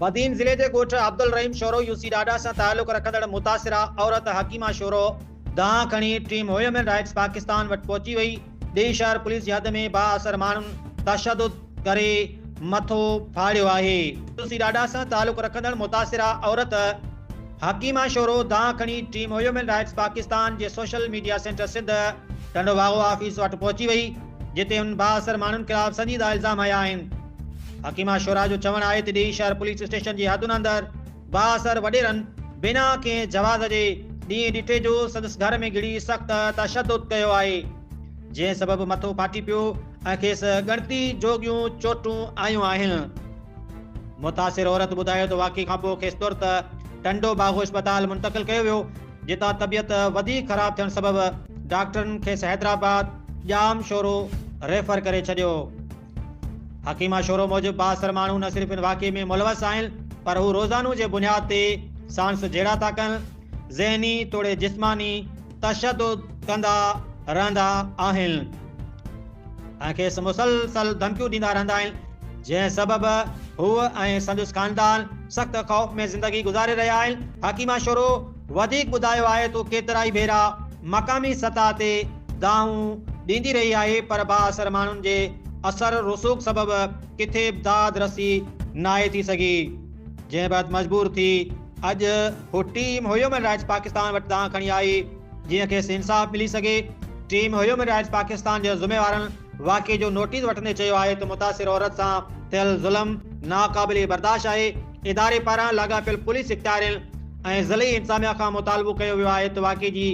بدين ضلعي جي ڳوٺ عبدالرحيم شورو يو سي ڏاڏا سان تعلق رکندڙ متاثره عورت حڪيمه شورو دانهن کڻي ٽيم هيومن رائٽس پاڪستان وٽ پهچي وئي، ڏيئي شهر پوليس جي حد ۾ بااثر ماڻهن تشدد ڪري مٿو ڦاڙيو آهي. يو سي ڏاڏا سان تعلق رکندڙ متاثره عورت حڪيمه شورو دانهن کڻي ٽيم هيومن رائٽس پاڪستان جي social media centre Sindh Tando Bagho office وٽ پهچي وئي، جتي هن بااثر ماڻهن خلاف سنجيده الزام هنيا آهن. حڪيمه شورا جو چوڻ آهي ته ڏيئي شهر پوليس اسٽيشن جي حدن اندر بااثر وڏيرن بنا ڪنهن جواز جي ڏينهن ڏٺي جو سندس گهر ۾ گهڙي سخت تشدد ڪيو آهي جنهن سبب مٿو ڦاٽي پيو ۽ کيس ڳڻتي جوڳيون چوٽون آيون آهن. متاثر عورت ٻڌايو ته واقعي کانپوء کيس ترت ٽنڊو باگو اسپتال منتقل ڪيو ويو، جتان طبيعت وڌيڪ خراب ٿيڻ سبب ڊاڪٽرن کيس حيدرآباد ڄام شورو ريفر ڪري ڇڏيو. حڪيمه شورو موجب بااثر ماڻهو نه صرف ان واقعي ۾ ملوث آهن پر هو روزانو جي بنياد تي ساڻس جهيڙا ٿا ڪن، ذهني توڙي جسماني تشدد ڪندا رهندا آهن. ۽ کيس مسلسل ڌمڪيون ڏيندا رهندا آهن، جنهن سبب هوء ۽ سندس خاندان سخت خوف ۾ زندگي گذاري رهيا آهن. حڪيمه شروع وڌيڪ ٻڌايو آهي ته هو ڪيترائي ڀيرا مقامي سطح تي دانهون ڏيندي رهي آهي پر بااثر ماڻهن جي اثر رسوخ سبب ڪٿي به داد رسي ناهي ٿي سگهي، جنهن بعد مجبور ٿي اڄ هوء ٽيم هيومن رائٽس پاڪستان وٽ دانهن کڻي آئي. جيئن کيس انصاف ملي سگهي. ٽيم هيومن رائٽس پاڪستان جي ذميوارن واقعي جو نوٽيس وٺندي چيو آهي ته متاثر عورت سان ٿيل ظلم ناقابل برداشت آهي، اداري پاران لاڳاپيل پوليس اختيارين ۽ ضلعي انتظاميا کان مطالبو ڪيو ويو آهي ته واقعي جي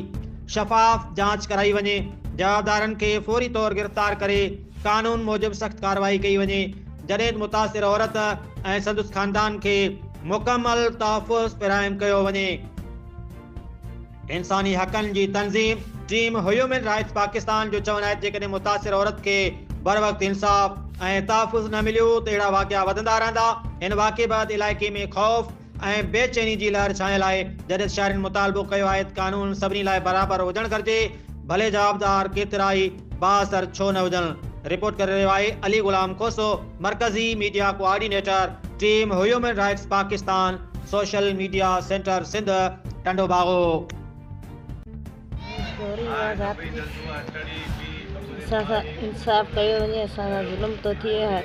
شفاف جاچ ڪرائي وڃي، جوابدارن کي فوري طور گرفتار ڪري قانون موجب سخت ڪارروائي ڪئي وڃي، جڏهن ته متاثر عورت ۽ سندس خاندان کي مڪمل تحفظ فراهم ڪيو وڃي. انساني حقن جي تنظيم ٽيم هيومن رائٽس پاڪستان جو چوڻ آهي ته جيڪڏهن متاثر عورت کي بروقت انصاف ۽ تحفظ نه مليو ته اهڙا واقعا وڌندا رهندا، هن واقعي بعد علائقي ۾ خوف ۽ بي چيني جي لهر ڇانيل آهي، جڏھن شھرين مطالبو ڪيو آهي ته قانون سڀني لاء برابر هجڻ گهرجي، ڀلي جوابدار ڪيترائي. بااثر ڇو نه هجن، رپورٽ ڪري رهيو آهي علي غلام کوسو، مرڪزي media coordinator, team human rights Pakistan, social media centre Sindh, Tando Bagho. ٿوري اها ذات جي سان سان انصاف ڪيو وڃي اسان سان ظلم ٿو ٿئي هر